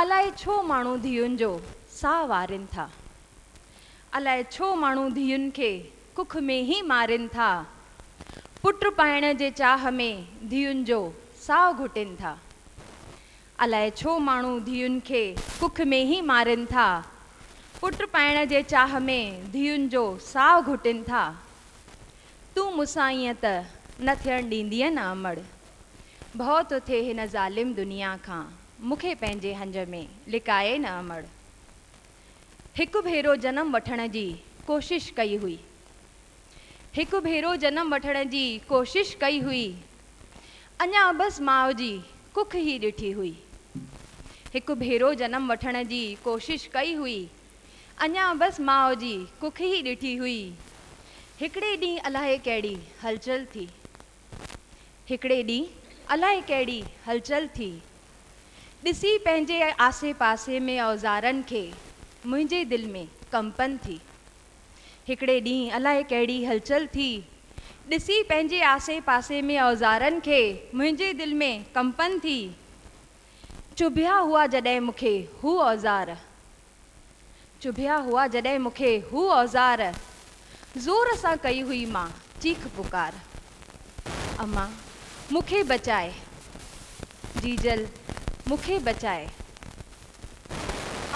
الائي ڇو ماڻهو ڌيئن جو ساهه وارين ٿا. الائي ڇو ماڻهو ڌيئن کي ڪک ۾ ئي مارين ٿا. پٽ پائڻ جي چاهه ۾ ڌيئن جو ساهه گهٽين ٿا. الائي ڇو ماڻهو ڌيئن کي ڪک ۾ ئي مارين ٿا. پٽ پائڻ جي چاهه ۾ ڌيئن جو ساهه گهٽين ٿا. تون مون سان ائين ته نه ٿيڻ ڏيندينء نه امڙ. ڀؤ ٿو ٿئي هن ظالم دنيا کان مون کي پنهنجي هنج ۾ لڪائي نه امڙ. هڪ ڀيرو جنم وٺڻ جي ڪوشش ڪئي هئي. هڪ ڀيرو جنم وٺڻ جي ڪوشش ڪئي هئي. اڃا بس ماء جي ڪک هي ڏٺي هئي. هڪ ڀيرو جنم وٺڻ جي ڪوشش ڪئي هئي. اڃا بس ماء جي ڪک هي ڏٺي هئي. هڪڙي ڏينهن الاهي ڪهڙي هلچل ٿي. هڪڙي ڏينهن الائي ڪهڙي هلچل ٿي. ڏسي پنهنجي آسي پاسي ۾ اوزارن کي منهنجي دل ۾ ڪمپن ٿي. هڪڙي ڏينهن الائي ڪهڙي هلچل ٿي. ڏسي پنهنجي آسي پاسي ۾ اوزارن کي منهنجي دل ۾ ڪمپن ٿي. چڀيا هئا جڏهن مون کي هو اوزار. چڀيا هئا جڏهن مون کي هو اوزار زور سان ڪئي هئي مان چيخ پڪار امان مون کي بچاء جيجل مون کي بچاء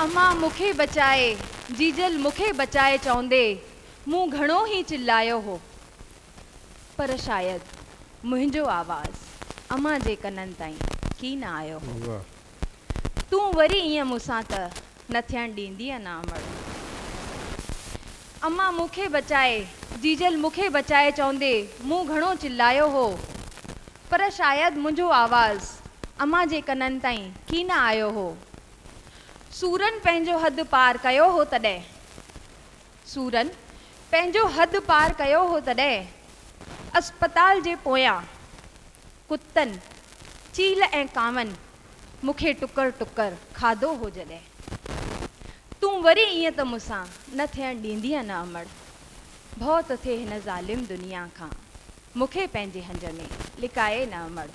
امان مون کي بچاء جيجل مون کي بچاء چوندي مون گهڻو ئي چلايو هو پر شايد منهنجو آواز امان جي ڪنن تائين ڪين آيو هو. تون وري ائين مون سان ته نه ٿيڻ ڏيندينء نه امڙ. امان مون کي بچاء، جيجل مون کي بچاء چوندي مون گهڻو چلايو هو، پر شايد منهنجو آواز امان جي ڪنن تائين ڪي نه آيو هو. سورن پنهنجو حد پار ڪيو هو تڏهن سورن پنهنجو حد پار ڪيو هو تڏهن اسپتال جي پويان ڪتن، چيل ۽ ڪانون مون کي ٽڪر ٽڪر کاڌو هو جڏهن تون وري ائين ته مون سان نه ٿيڻ ڏيندينء نه امڙ، ڀؤ ٿو ٿئي هن ظالم دنيا کان مون کي پنهنجي هنج ۾ لڪائي نه امڙ.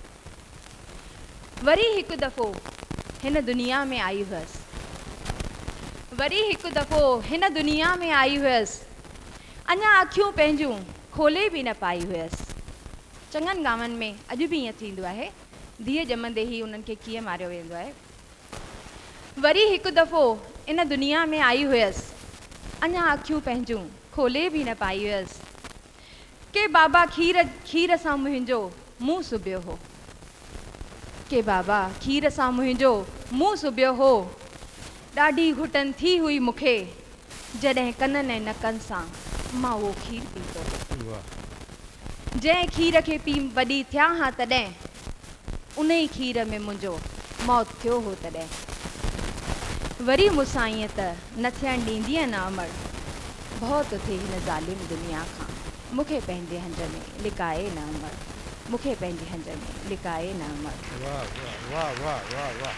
وري هڪ دفعو هن دنيا ۾ آئي هئس. وري هڪ دفعو هن دنيا ۾ آئي هئس. اڃا اکيون پنهنجون کولي به نه پائي هئس. چڱن گانون ۾ اڄ به ائين ٿيندو آهي. ڌيء ڄمندي ئي انهن کي ڪيئن ماريو ويندو آهي. وري هڪ دفعو ان دنيا ۾ آئي هئس. اڃا اکيون پنهنجون کولي به نه پائي هئس. ڪي بابا کير کير سان منهنجو منهن سبيو هو ڪي بابا کير سان منهنجو منهن سبيو هو ڏاڍي گهٽن ٿي هئي مون کي جڏهن ڪنن ۽ نڪن سان مان اهو کير پيتو هو جنهن کير کي پي وڏي ٿيا هان تڏهن انهي کير ۾ منهنجو موت ٿيو هو تڏهن وري مون سان ائين ته نه ٿيڻ ڏيندينء نه امڙ، ڀؤ ته ٿئي هن ظالم دنيا کان مون کي پنهنجي هنج ۾ لڪائي نه امڙ، مون کي پنهنجي هنج ۾ لڪائي نه امڙ. واھ واھ واھ واھ واھ واھ.